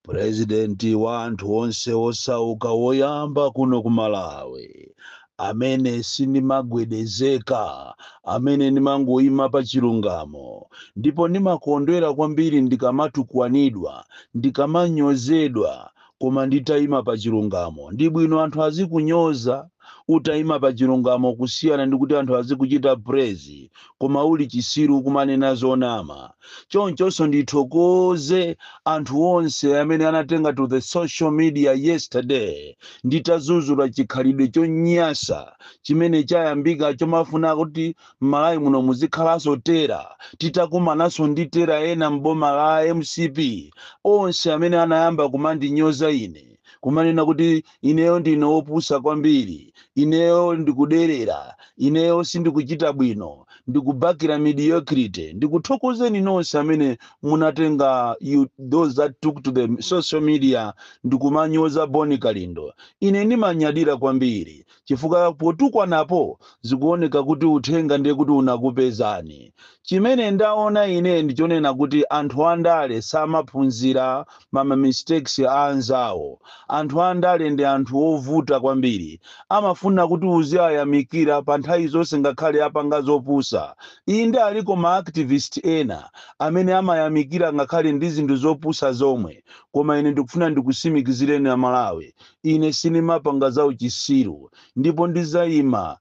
purezidenti wa anthu onse osauka woyamba kuno ku Malawi amene sindimagwedezeka amene ndimangoyima pa chilungamo ndipo ndimakondwera kwambiri ndikamatukwanidwa ndikamanyozedwa Koma nditaima pa chilungamo. Ndi bwino anthu azikunyoza utaima pa chilungamo kusiyana ndi kuti anthu azikuchita praise koma uli chisiru kumanena zonama. Chonchonso ndithokoze anthu onse amene anatenga to the social media yesterday nditazuzula chikhalidwe chonyasa chimene chayambika chomafuna kuti mmalawi muno muzikhalanso terror titakumananso ndi terror ena m'boma la mcp onse amene anayamba kumandinyoza ine kumanena kuti ineyo ndine opusa kwambiri ineyo ndikuderera ineyo sindikuchita bwino ndikubakira mediocrity ndikuthokozeni nonse amene munatenga those that took to the social media ndikumanyoza boni kalindo ine ndimanyadira kwambiri chifukwa potukwanapo zikuoneka kuti uthenga ndiye kuti unakupezani. Chimene ndaona ine ndi chonena kuti anthu andale samaphunzira ma ma mistakes a anzawo. Anthu andale ndi anthu ovuta kwambiri. Amafuna kuti uziayamikira pa nthawi zonse ngakhale apanga zopusa. Inde aliko ma activist ena amene amayamikira ngakhale ndi zinthu zopusa zomwe koma ine ndikufuna ndikusimikizireni a Malawi, Ine sindimapanga zauchisiru, ndipo ndidzaima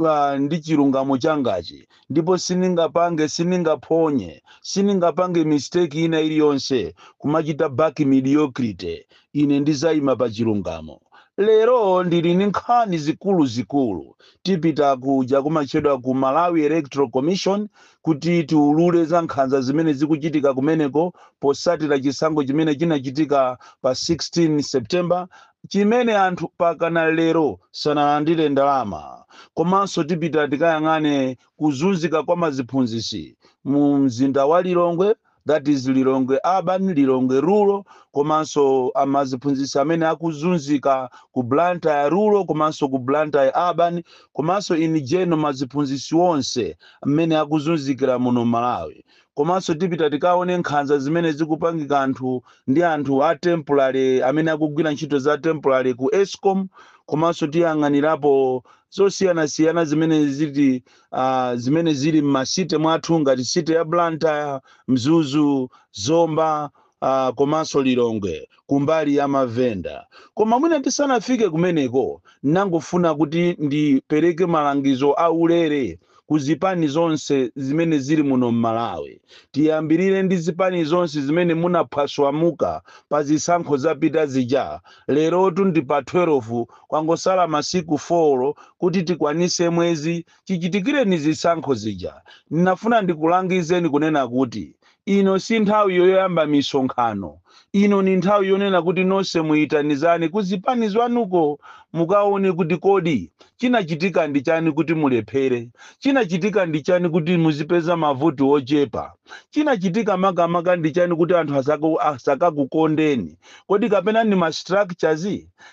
a, ndi chilungamo changachi, ndipo sindingapange, sindingaphonye, sindingapange mistake ina iliyonse, kumachita back mediocrity. Ine ndidzaima pa chilungamo. Lero ndili ndi nkhani zikuluzikulu. Tipita kuja kumatchedwa ku Malawi Electoral Commission, kuti tiulule za nkhanza zimene zikuchitika kumeneko posatira chisankho chimene chinachitika pa 16 September chimene anthu pakana lero sanalandire ndalama komanso tipita tikayang'ane kuzunzika kwa maziphunzisi mu mzinda wa Lilongwe that is Lilongwe urban, Lilongwe rural komanso amaziphunzitsi amene akuzunzika ku Blantyre rural komanso ku Blantyre urban komanso in general maziphunzitsi onse mmene akuzunzikira muno Malawi komanso tipita tikaone nkhanza zimene zikupangika anthu ndi anthu a temporary amene akugwira ntchito za temporary ku Escom komanso tiyang'anirapo zosiyanasiyana zimene ziti uh, zimene zili m'masite mwathu ngati site ya Blantyre, Mzuzu, Zomba uh, komanso Lilongwe kumbali ya mavenda. Koma mwina tisanafike kumeneko, ndangofuna kuti ndipereke malangizo aulere ku zipani zonse zimene zili muno m'Malawi. Tiyambirire ndi zipani zonse zimene munaphwaswamuka pa zisankho zapita zija Lerotu ndi pa 12, kwangosala masiku 4 kuti tikwanitse mwezi chichitikireni zisankho zija. Ndinafuna ndikulangizeni kunena kuti ino si nthawi yoyamba misonkhano. Ino ni nthawi yonena kuti nonse muitanizane ku zipani zwanuko mukaone kuti kodi chinachitika ndi chani kuti mulephere, chinachitika ndi chani kuti muzipeza mavoti ochepa, chinachitika makamaka ndi chani kuti anthu asakakukondeni. Kodi kapena ndi ma structures?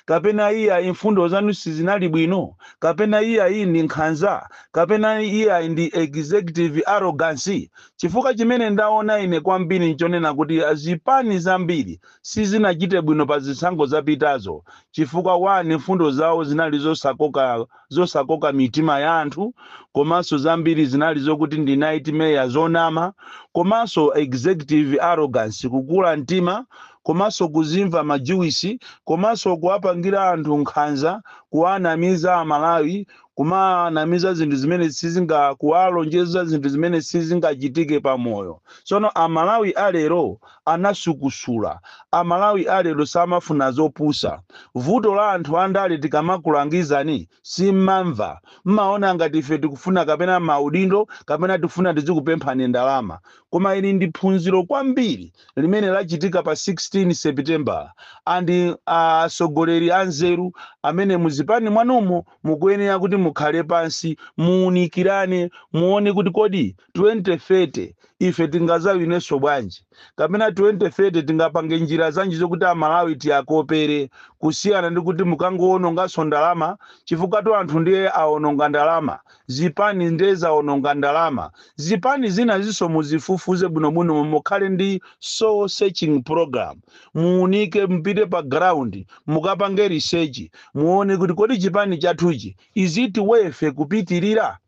Kapena iyayi mfundo zanu sizinali bwino? Kapena iyayi ndi nkhanza? Kapena iyayi ndi executive arrogance? Chifukwa chimene ndaona ine kwambiri nchonena kuti zipani zambiri sizinachite bwino pa zisankho zapitazo chifukwa 1 mfundo zawo zinali zosakoka zosakoka mitima ya anthu komanso zambiri zinali zokuti ndi nightmare zonama komanso executive arrogance kukula mtima komanso kuzimva majuwisi komanso kuwapangira anthu nkhanza kuwanamiza amalawi kumanamiza zinthu zimene sizinga kuwalonjeza zinthu zimene sizingachitike pa moyo tsono amalawi alero anasukusula. A Malawi a lero samafuna zopusa. Vuto la anthu a ndale tikamakulangizani simmamva. Mmaona ngati ife tikufuna kapena ma udindo kapena tikufuna tizikupemphani ndalama. Koma ili ndi phunziro kwambiri limene lachitika pa 16 Sepitembala and atsogoleri anzeru amene mu zipani mwanumo mukuyenera kuti mukhale pansi muunikirane muone kuti kodi 2030 ife tingazawinenso bwanji kapena 2030 tingapange njira zanji zokuti amalawi tiyakopere kusiyana ndikuti mukangowononganso ndalama chifukwatu anthu ndiye awononga ndalama zipani ndiye zawononga ndalama zipani zinazinso muzifufuze bwinobwino momwe mukhale ndi soul searching program muunike mpite pa ground mukapange research muone kuti kodi chipani chathuchi is it worth kupitirira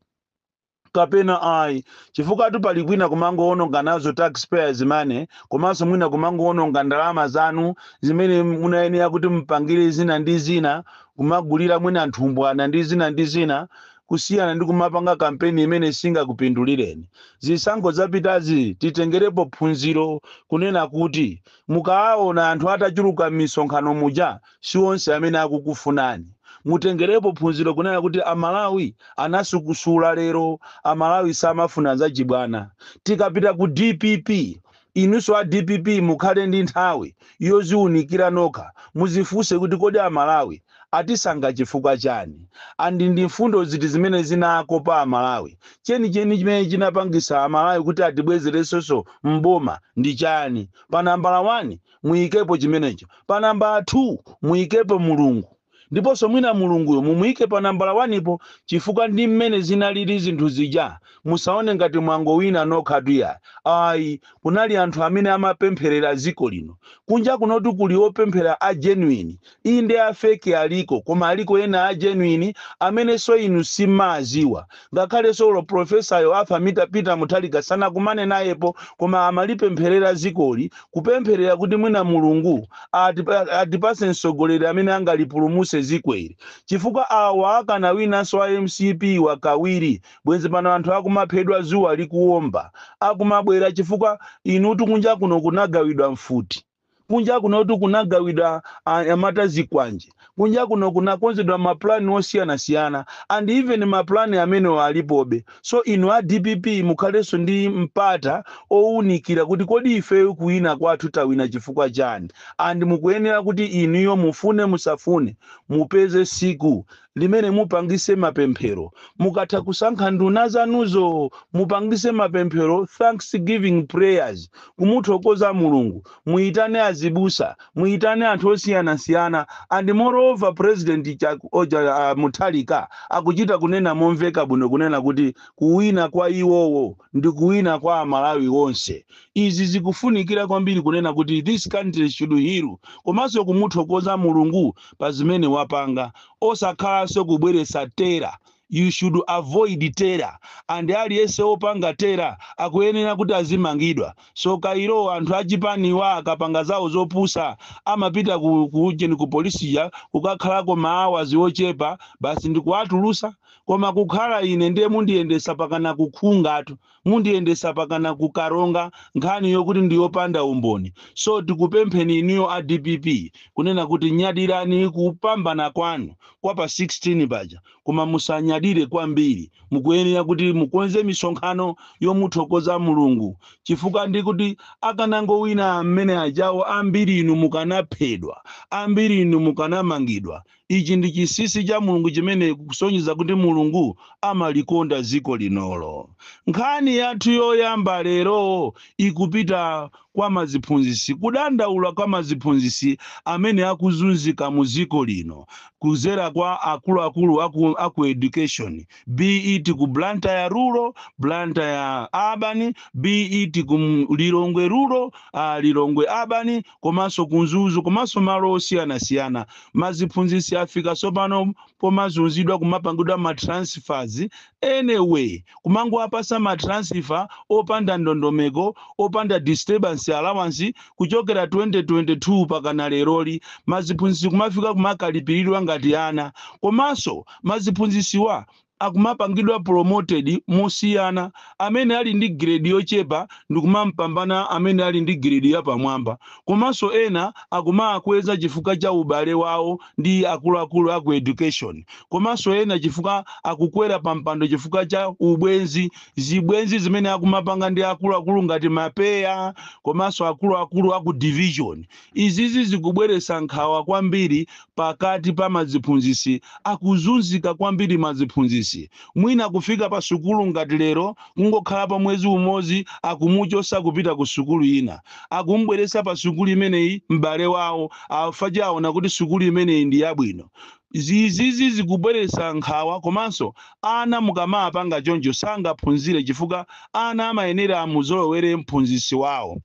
kapena ayi chifukwatu pali kwina kumangowononga nazo tax payers money komanso mwina kumangowononga ndalama zanu zimene munayenera kuti mupangire zina ndi zina kumagulira mwina nthumbwana ndi zina ndi zina kusiyana ndi kumapanga kampeni imene singakupindulireni. Zisankho zapitazi titengerepo phunziro kunena kuti mukawaona anthu atachuluka m'misonkhano muja, si onse amene akukufunani. Mutengerepo phunziro kunena kuti a Malawi anasukusula lero a Malawi samafuna zachibwana. Tikapita ku dpp inuso a dpp mukhale ndi nthawi yoziunikira nokha muzifunse kuti kodi a Malawi atisankha chifukwa chani and ndi mfundo ziti zimene zinakopa a Malawi. Chenicheni chimene chinapangisa a Malawi kuti atibwezeresenso m'boma ndi chani pa nambala wani? muyikepo chimenecho pa nambala thuu, muyikepo Mulungu, ndiponso mwina Mulunguyo mumuyike pa nambala wanipo chifukwa ndi mmene zinalili zinthu zija, musaone ngati mwangowina nokhatu iyayi, ayi, kunali anthu amene amapempherera dziko lino, kunja kunotu kuli opemphera a genuine, Inde a fake aliko koma aliko ena a genuine amenenso inu sim'maaziwa. Ngakhalenso olo professor yo Arthur Peter Mutharika sanakumane nayepo koma amalipempherera zikoli kupempherera kuti mwina Mulungu atipatse mtsogoleri amene angalipulumutse zikoli chifukwa awa akanawinanso a mcp wa kawiri bwenzi pano anthu akumaphedwa zuwa likuwomba akumabwera chifukwa inutu kunja kuno kunagawidwa mfuti kunja kunotu kunagawidwa anyamata zikwanje kunja kuno kunakonzedwa mapulani osiyanasiyana and even mapulani amenewo alipobe so inu a dpp mukhalenso ndi mpata owunikira kuti kodi ifeyo kuwina kwathu tawina chifukwa chani and mukuyenera kuti inuyo mufune musafune mupeze siku limene mupangise mapemphero mukatha kusankha nduna zanuzo mupangise mapemphero thanksgiving prayers kumuthokoza mulungu muyitane azibusa muyitane anthu osiyanasiyana and moreover president Chak- oja, ah, muthalika akuchita kunena momveka bwino kunena kuti kuwina kwa iwowo ndi kuwina kwa amalawi onse izi zikufunikira kwambiri kunena kuti this country should heal komanso kumuthokoza mulungu pa zimene wapanga osakhalanso kubweretsa terror you should avoid terror and aliyense wopanga terror akuyenera kuti azimangidwa so kairo anthu achipaniwa akapanga zawo zopusa amapita ku, ku, ujeni ku polisiya kukakhalako maawazi ochepa basi ndikuwatulusa koma kukhala ine ndiye mundiyendetsa pakana ku Khungatu mundiyendesa pakana ku karonga nkhani yokuti ndiyopanda umboni so tikupempheni inuyo a dpp kunena kuti nyadirani kupambana kwanu kwa pa 16 paja koma musanyadire kwambiri mukuyenera kuti mukonze misonkhano yomuthokoza mulungu chifukwa ndi kuti akanangowina amene ajawo ambiri inu mukanaphedwa ambiri inu mukanamangidwa Ichi ndi chinsinsi cha Mulungu chimene chikusonyeza kuti Mulungu amalikonda dziko linolo. Nkhani yathu yoyamba lero ikupita kwa maziphunzitsi kudandaula kwa maziphunzitsi amene akuzunzika mu dziko lino kudzera kwa akuluakulu aku education be it ku Blantyre rural, Blantyre urban, be it ku Lilongwe rural, uh, Lilongwe urban, komanso ku Mzuzu komanso malo osiyanasiyana. Maziphunzitsi afika tsopano pomazunzidwa kumapangidwa ma transfers any way, kumangowapatsa ma transfer opanda ndondomeko, opanda disturbance allowance kuchokera 2022 pakana leroli. Maziphunzitsi kumafika kumakalipiridwa ngati ana. Komanso maziphunzitsiwa akumapangidwa promoted mosiyana amene ali ndi grade yochepa ndikumampambana amene ali ndi grade yapamwamba komanso ena akumawakweza chifukwa cha ubale wawo ndi akuluakulu aku education komanso ena chifukwa akukwera pampando chifukwa cha ubwenzi zibwenzi zimene akumapanga ndi akuluakulu ngati mapeya komanso akuluakulu aku division Izizi zikubweretsa nkhawa kwambiri pakati pa maziphunzitsi akuzunzika kwambiri maziphunzitsi mwina kufika pa sukulu ngati lero kungokhalapo mwezi umodzi akumuchotsa kupita ku sukulu ina akum'bweretsa pa sukulu imeneyi m'bale wawo chifukwa aona kuti sukulu imeneyi ndi yabwino izizi zikubweretsa nkhawa komanso ana mukamawapanga choncho sangaphunzire chifukwa ana amayenera amuzolowere m'phunzitsi wawo.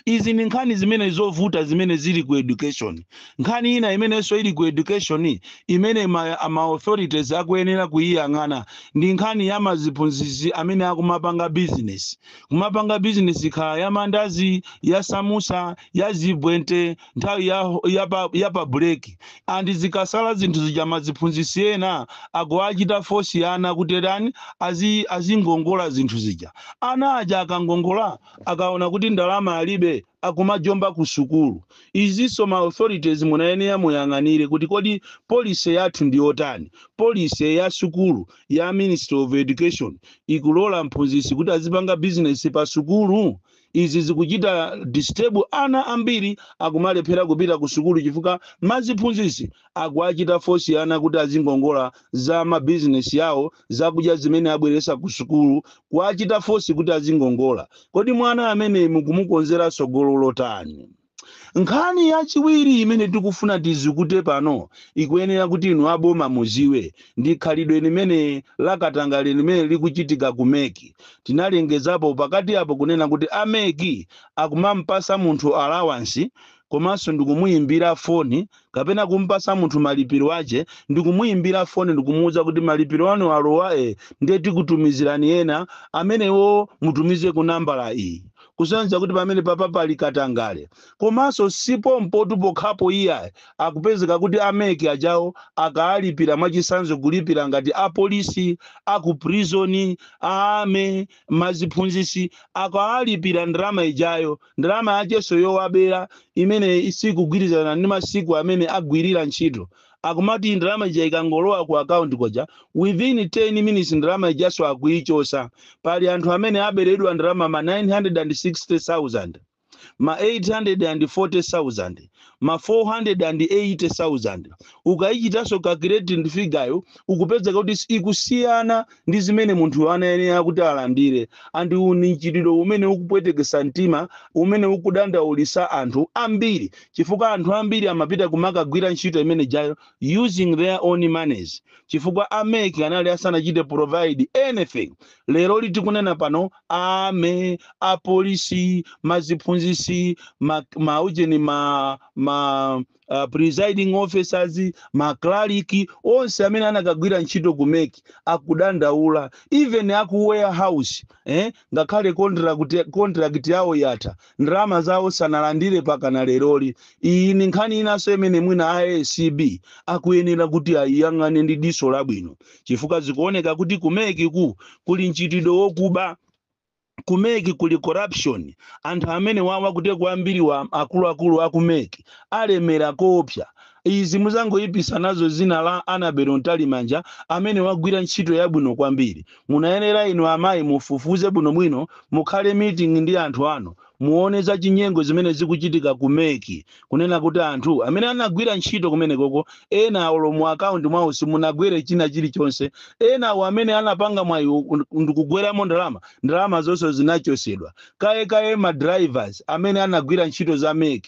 izi ndi nkhani zimene zovuta zimene zili ku education nkhani ina imenenso ili ku education imene ma, ma authorities akuyenera kuyiyang'ana ndi nkhani ya maziphunzitsi amene akumapanga business kumapanga business kukhala ya mandazi ya samusa ya zibwente nthawi ya, ya, pa, ya pa break and zikasala zinthu zija maziphunzitsi ena akuwachita force ana kuti tani azi, azingongola zinthu zija ana aja akangongola akaona kuti ndalama alibe akumajomba ku sukulu. Izinso ma authorities munayenera muyang'anire kuti kodi policy yathu ndiyotani. Policy ya sukulu ya ministry of education ikulola mphunzitsi kuti azipanga business pa sukulu? Izi zikuchita disturb ana ambiri akumalephera kupita ku sukulu chifukwa maziphunzitsi akuwachita force ana kuti azingongola za ma business awo zakudya zimene abweretsa kusukulu, kuwachita force kuti azingongola. Kodi mwana ameneyu mukumukonzera tsogololo lotani? Nkhani yachiwiri imene tikufuna tizikute pano ikuyenera kuti inu a boma mudziwe ndi khalidwe limene la katangale limene likuchitika ku mec. Tinalengezapo pakati apo kunena kuti a mec akumamupatsa munthu allowance komanso ndikumuyimbira foni kapena kumpasa munthu malipiro ache ndikumuimbira foni ndikumuuza kuti malipiro anu alowa e ndiye tikutumizirani ena amenewo mutumize ku nambala iyi kusonyeza kuti pamene papa pali katangale komanso si pompotu pokhapo iyayi akupezeka kuti a MEC ajawo akaalipira mwachisanzo kulipira ngati apolisi aku prison a army maziphunzisi akaalipira ndalama ijayo ndalama yacheso yowabela imene sikugwilizana ndi masiku amene agwilila ntchito akumati ndalama ija ikangolowa ku account kuja within 10 minutes ndalama ijaso akuichosa pali anthu amene abeledwa ndalama ma 960000 ma 840000 ma 480000 ukaichitaso calculate ndi figure yo ukupezeka kuti ikusiyana ndi zimene munthuyo anayenera kuti alandire, and uwu ndi mchitidwe umene ukupwetekesa mtima, umene ukudandaulisa anthu ambiri chifukwa anthu ambiri amapita kumakagwira ntchito imene ijayo using their own moneys chifukwa a mec anali asanachite provide anything. Leroli tikunena pano a army, a police, ma ziphunzisi, ma, ma ujeni ma, ma uh, presiding officers maklaliki onse amene anakagwira ntchito ku MEC akudandaula even aku warehouse eh? ngakhale contract, contract yawo yatha ndalama zawo sanalandire pakana leroli iyi ni nkhani inanso imene mwina a ACB akuyenera kuti ayiyang'ane ndi diso labwino chifukwa zikuoneka kuti ku MEC ku kuli mchitidwe wokuba ku mec kuli corruption anthu amene wawa kuteku ambiri wa akuluakulu aku mec alemera koopsa izi muzangoipisa nazo zina la Annabel Mtalimanja amene wagwira ntchito yabwino kwambiri munayenera inu amayi mufufuze bwinobwino mukhale meeting ndi anthu anu Muone zachinyengo zimene zikuchitika ku mec kunena kuti anthu amene anagwira ntchito kumenekoko ena olo mu account mwawo simunagwere china chilichonse enawo amene anapanga mwayiwo ndikugweramo ndalama ndalamazo zonse zinachosedwa kaye kaye ma drivers amene anagwira ntchito za mec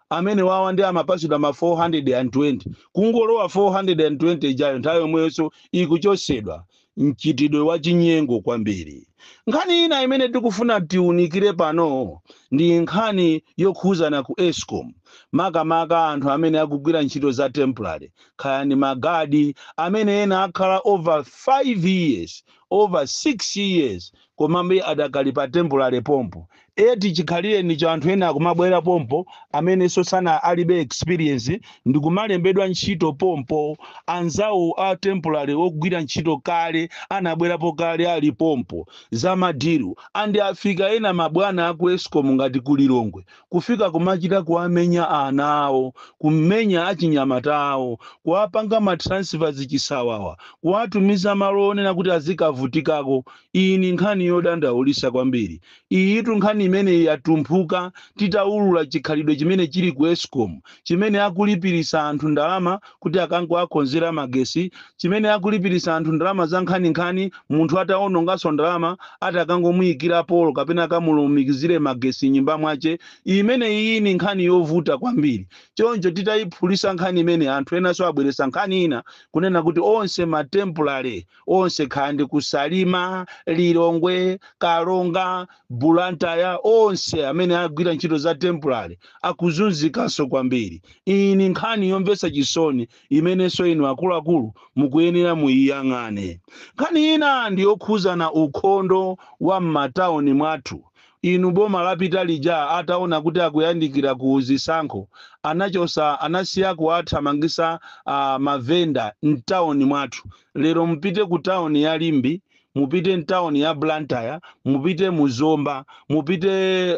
amenewawa ndiye amapatsidwa ma 420 kungolowa 420 ijayo nthawi yomweyonso ikuchotsedwa mchitidwe wa chinyengo kwambiri nkhani ina imene tikufuna tiunikire pano ndi nkhani yokhuzana ku escom makamaka anthu amene akugwira ntchito za temporary kaya ndi magadi amene ena akhala over 5 years over 6 years komabe adakali pa temporary pompo eti chikhalirenicho anthu ena akumabwera pompo amenenso, sana, alibe experience ndikumalembedwa ntchito pompo anzawo a temporary ogwira ntchito kale anabwerapo kale ali pompo za madilu and afika ena mabwana aku escom ngati ku lilongwe kufika kumachita kuwamenya anawo, kummenya achinyamatawo, kuwapanga ma transfers chisawawa, kuwatumiza malo onena kuti azikavutikako, iyi ni nkhani yodandaulisa kwambiri, iyitu nkhani imeneyi yatumphuka titaulula chikhalidwe chimene chili ku escom chimene akulipirisa anthu ndalama kuti akangowakonzera magesi, chimene akulipirisa anthu ndalama zankhaninkhani munthu atawononganso ndalama ati akangomuikira polo kapena akamulumikizire magesi m'nyumba mwache. Imeneyiyi ni nkhani yovuta kwambiri. Choncho titayiphulisa nkhani imeneyi anthu enanso abweresa nkhani ina kunena kuti onse ma temporary onse kaya ndi ku salima lilongwe karonga blantyre onse amene agwira ntchito za temporary akuzunzikanso kwambiri iyi ni nkhani yomvetsa chisoni imenenso inu akuluakulu mukuyenera muyiyang'ane nkhani ina ndi yokhuzana ni ukhondo wa m'matauni mwathu Inu boma lapita lija ataona kuti akuyandikira ku zisankho anachosa anasiya kuwathamangisa a mavenda mtauni mwathu lero mupite ku tauni ya limbe mupite mtauni ya blantyre mupite mu zomba mupite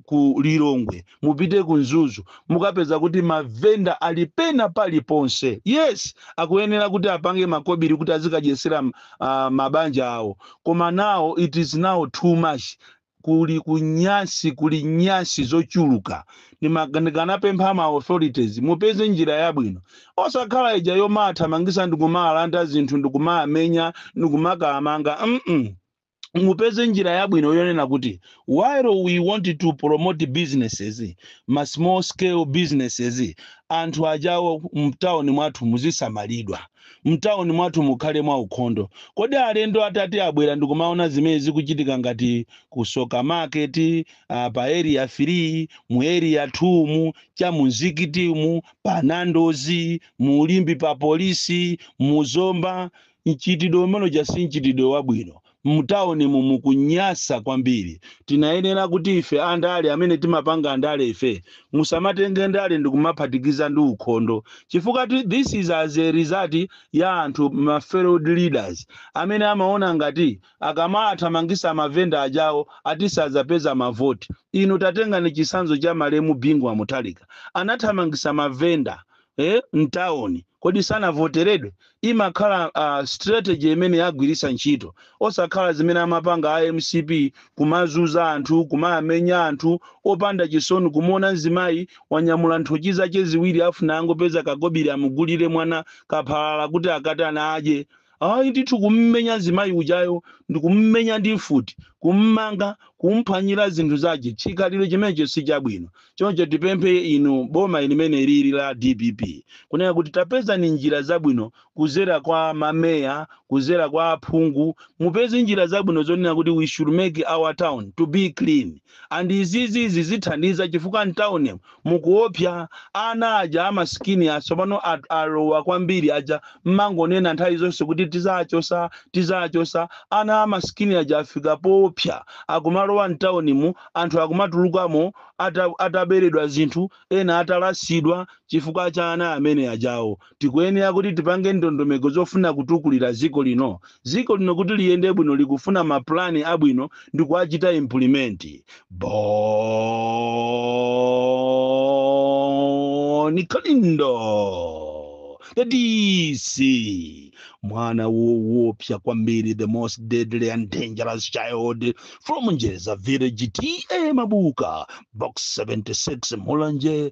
ku lilongwe mupite ku mzuzu mukapeza kuti mavenda ali pena paliponse yes akuyenera kuti apange makobiri kuti azikadyesera uh, mabanja awo koma now it is now too much kuli kunyasi kuli nyasi zochuluka Ndima- ndikanapempha ma authorities mupeze njira yabwino osakhala ija yomawathamangisa ndikumawalanda zinthu ndikumawamenya ndikumakawamanga mm mupeze njira yabwino yonena kuti while we want to promote businesses ma small scale businesses anthu ajawo mtawuni mwathu muzisamalidwa mtawuni mwathu mukhale mwa ukhondo kodi alendo atati abwera ndikumaona zimene zikuchitika ngati ku tsoka market uh, pa area 3 mu area 2 mu cha mu nzikitimu pa nandos mu limbe pa polisi mu zomba Mchitidwe umene uja si mchitidwe wabwino. Mtaunimu mukunyasa kwambiri. Tinayenera kuti ife andale amene timapanga ndale ife musamatenge ndale ndikumaphatikiza ndi ukhondo chifukwa ti this is as a result ya anthu ma failed leaders amene amaona ngati akamawathamangisa ma vendor ajawo ati sadzapeza ma vote. Inu tatengani chitsanzo cha malemu Bingu wa Mutharika. Anathamangisa ma vendor eh, mtawuni kodi sanavoteredwe imakhala uh, strategy imene agwiritsa ntchito osakhala zimene amapanga a mcp kumazuza anthu kumawamenya anthu opanda chisoni kumuona mzimayi wanyamula nthochi zake ziwiri afuna angopeza kakobiri amugulire mwana kaphalala kuti akatana adye Ayi ndithu kummenya nzimayi ujayo ndikummenya ndi mfuti, kummanga, kumphwanyira zinthu zache chikhalidwe chimenecho sichabwino choncho tipemphe inu boma limene lili la dpp kunena kuti tapezani njira zabwino kuzera kwa ma mayor kuzera kwa aphungu mupeze njira zabwino zonena kuti we should make our town to be clean and izizi zithandiza chifukwa mtown mukuopya ana aja amasikini asopano alowa kwambiri aja mmangonena nthawi zonse kuti tizachosa tizachosa ana amasikini aja afika poopya akumalowa mtown mu anthu akumatulukamo ataberedwa zinthu ena atalasidwa chifukwa cha ana amene ajawo Tikuyenera kuti tipange ndondomeko zofuna kutukulira ziko lino. Ziko lino kuti liyende bwino likufuna ma plan abwino ndikuwachita implement. Bon Kalindo the DC mwana woopsa kwambiri the most deadly and dangerous child from Njereza village TA Mabuka box 76 Mulanje